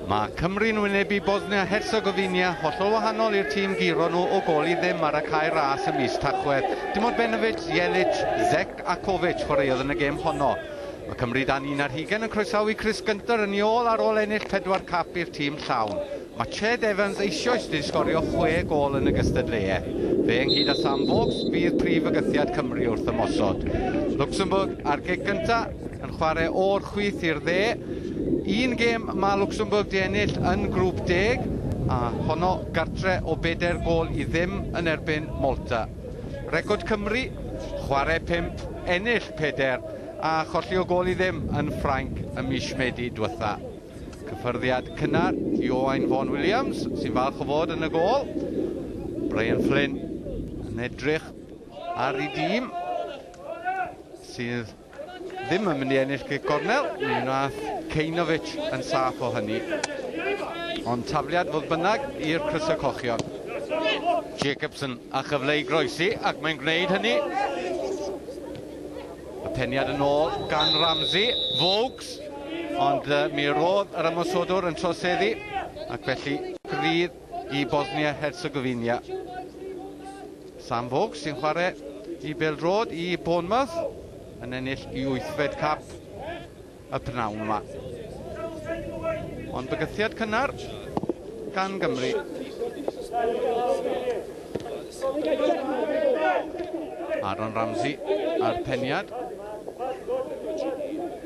Mae Cymru'n wynebu Bosnia-Herzegovina, hollol wahanol i'r tîm guro nhw o gol i ddim ar y cae ras y mis Tachwedd. Dim ond Benovic, Jelic, Zec a Kovic chwaraeodd yn y gêm honno. Mae Cymru dan un ar hugen yn croesawu Chris Gunter yn ei ôl ar ôl ennill pedwar cap i'r tîm llawn. Mae Ched Evans eisioes wedi sgorio chwe gôl yn y gystadleuaeth. Fe ynghyd â Sam Vokes fydd prif fygythiad Cymru wrth ymosod. Luxembourg ar gig gyntaf yn chwarae o'r chwith i'r dde. Un gêm mae Luxembourg di ennill yn grŵp deg a honno gartre o bedair gôl i ddim yn erbyn Malta. Record Cymru, chwarae pump, ennill pedair a cholli o gôl i ddim yn Ffrainc ym mis Medi diwetha'. Cyffyrddiad cynnar i Owain Vaughan Williams, sy'n falch o fod yn y gol. Brian Flynn yn edrych ar ei dîm, sydd ddim yn mynd i ennill cic gornel. Mi wnaeth Ceinovic yn saff o hynny. Ond tafliad fodd bynnag i'r crysau cochion. Jacobson a chyfle i groesi ac mae'n gwneud hynny. Y peniad yn ôl gan Ramsey, Vokes, ond uh, mi roedd yr ymosodwr yn troseddu ac felly grydd i Bosnia-Herzegovina. Sam Vokes sy'n chwarae i Beldrod i Bournemouth yn ennill i wythfed cap y pnawn yma. Ond bygythiad cynnar gan Gymru. Aaron Ramsey a'r peniad.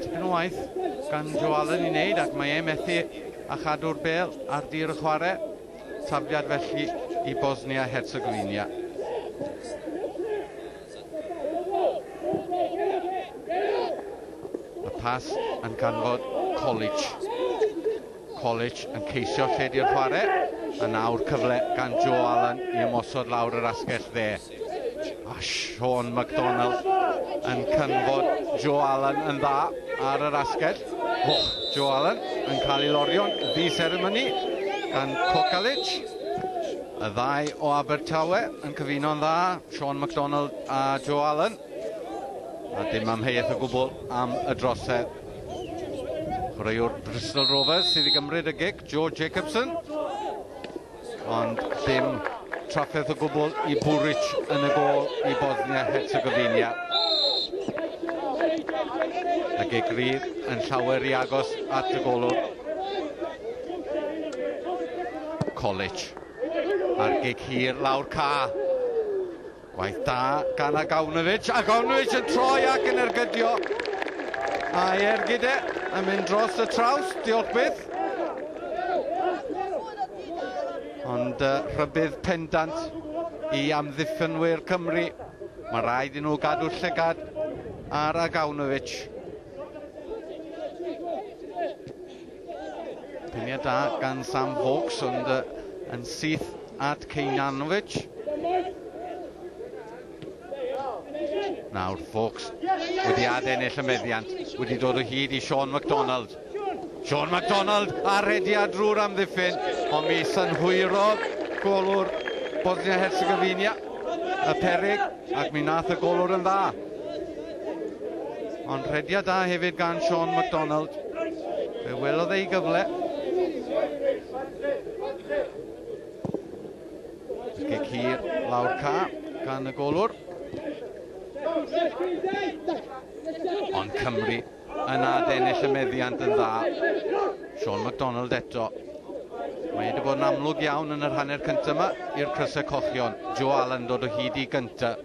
Tipyn o waith gan Joe Allen i wneud ac mae e methu a chadw'r bel ar dir y chwarae. Tafliad felly i Bosnia-Herzegovina. Pas yn ganfod College. College yn ceisio lle di'r chwarae. A nawr cyfle gan Joe Allen i ymosod lawr yr asgell dde. A Sean McDonald yn canfod Joe Allen yn dda ar yr asgell. Oh, Joe Allen yn cael ei lorio'n ddi seremoni gan Cocalic. Y ddau o Abertawe yn cyfuno'n dda. Sean McDonald a Joe Allen. A dim amheuaeth o gwbl am y drosedd. Chwaraewr Bristol Rovers sydd i gymryd y gig, Joe Jacobson. Ond dim trafferth o gwbl i Buric yn y gol i Bosnia Herzegovina. Y gig rydd yn llawer i agos at y golwr. College. A'r gig hir lawr ca. Waith da gan Agawnovic. Agawnovic yn troi ac yn ergydio. Mae Ergide yn mynd dros y traws, diolch byth. Ond uh, rhybydd pendant i amddiffynwyr Cymru. Mae rhaid i nhw gadw llygad ar Agawnovic. Piniau da gan Sam Vokes, ond uh, yn syth at Kejnanovic. Nawr, Vokes wedi adennill y meddiant, wedi dod o hyd i Sean MacDonald. Sean MacDonald a rediad drwy'r amddiffyn, ond mi synhwyrodd golwr Bosnia-Herzegovina y perig. Ac mi nath y golwr yn dda. Ond rhediad da hefyd gan Sean McDonald. Fe welodd ei gyfle. Ysgu cir lawr ca gan y golwr. Ond Cymru yn nad ennill y meddiant yn dda. Sean McDonald eto. Mae wedi bod yn amlwg iawn yn yr hanner cyntaf yma i'r crysau cochion. Joe Allen dod o hyd i gyntaf.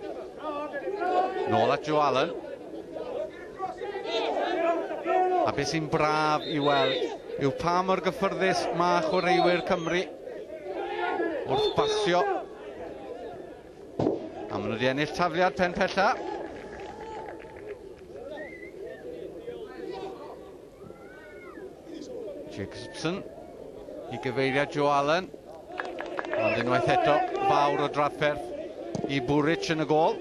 Nôl at Joe Allen. A beth sy'n braf i weld yw pa mor gyffyrddus mae chwaraewyr Cymru wrth basio A maen nhw wedi ennill tafliad pen pella. Jacobson i gyfeiriad Joe Allen. Ond unwaith eto, fawr o drafferth i Bwrich yn y gol.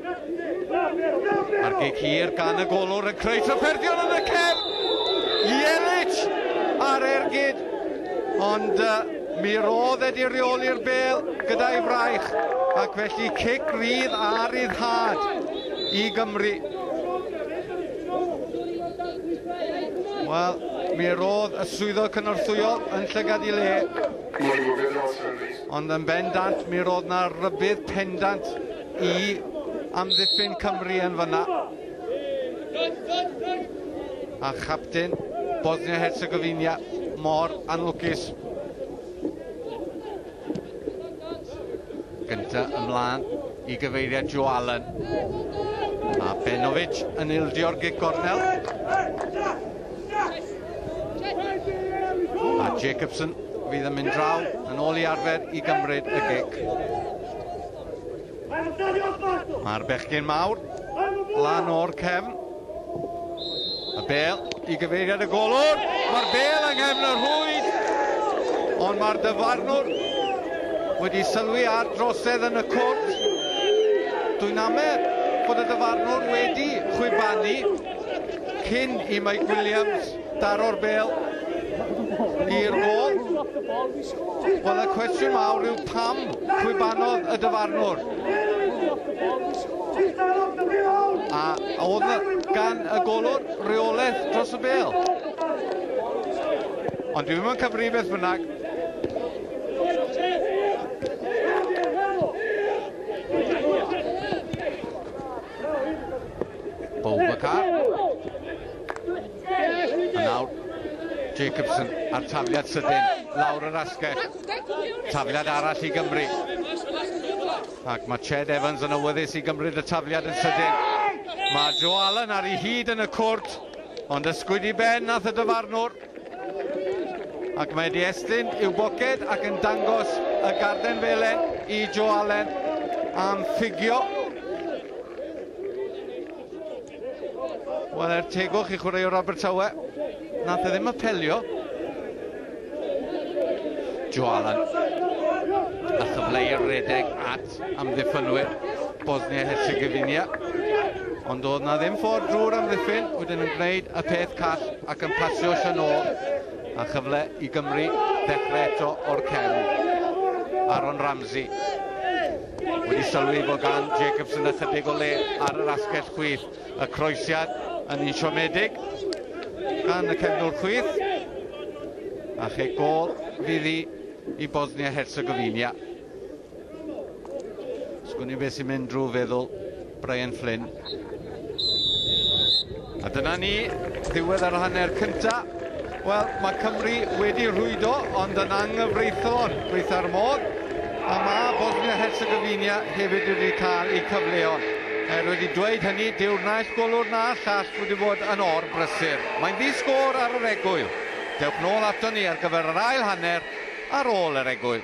Mae'r gig hir gan y golwr yn creu trafferthion yn y cefn. Ielic ar ergyd, ond uh, mi roedd wedi reoli'r bel gyda'i fraich, ac felly cic rydd a ryddhad i Gymru. Wel, mi roedd y swyddog cynorthwyol yn llygad i le. Ond yn bendant, mi roedd na rybydd pendant i amddiffyn Cymru yn fyna. A chapten Bosnia-Herzegovina mor anlwcus. Gynta ymlaen i gyfeiriad Joe Allen. A Benovic yn ildio'r gig gornel. A Jacobson fydd yn mynd draw yn ôl i arfer i gymryd y gig. Mae'r bechgyn mawr lan o'r cefn. Y bel i gyfeiriad y golwr. Mae'r bel yng nghefn y rhwyd. Ond mae'r dyfarnwr wedi sylwi ar drosedd yn y cwrt. Dwi'n amed bod y dyfarnwr wedi chwibanu cyn i Mike Williams Daro'r bel i'r gol. Wel, y cwestiwn mawr yw pam chwibanodd y dyfarnwr. A oedd gan y golwr reolaeth dros y bel. Ond dwi ddim yn cyfri beth bynnag. Boubacar. A nawr Jacobson a'r tafliad sydyn lawr yr asgell. Tafliad arall i Gymru. Ac mae Ched Evans yn awyddus i gymryd y tafliad yn sydyn. Mae Joe Allen ar ei hyd yn y cwrt, ond ysgwyd i ben nath y dyfarnwr. Ac mae wedi estyn i'w boced ac yn dangos y garden felen i Joe Allen am ffugio. Wel, er tegwch i chwaraewr Abertawe, nath e ddim apelio. Joe Allen. A chyfle i'r redeg at at amddiffynwyr Bosnia-Herzegovina, ond doedd na ddim ffordd drwy'r amddiffyn, wedyn yn gwneud y peth call ac yn pasio Sian ôl, a chyfle i Gymru ddechrau eto o'r cefn. Aaron Ramsey wedi sylwi bod gan Jacobson ychydig o le ar yr asgell chwith. Y croesiad yn un siomedig gan y cefnwr chwith. A che gol fydd i i Bosnia-Herzegovina. Sgwn i beth sy'n mynd drwy feddwl Brian Flynn. A dyna ni, ddiwedd ar hanner cynta. Wel, mae Cymru wedi rhwydo, ond yn anghyfreithlon, gweitha'r modd. A mae Bosnia Herzegovina hefyd wedi cael ei cyfleo. Er wedi dweud hynny, dyw'r naill golwr na llall wedi bod yn or brysur. Mae'n ddi-sgôr ar yr egwyl. Dewch nôl ato ni ar gyfer yr ail hanner ar ôl yr egwyl.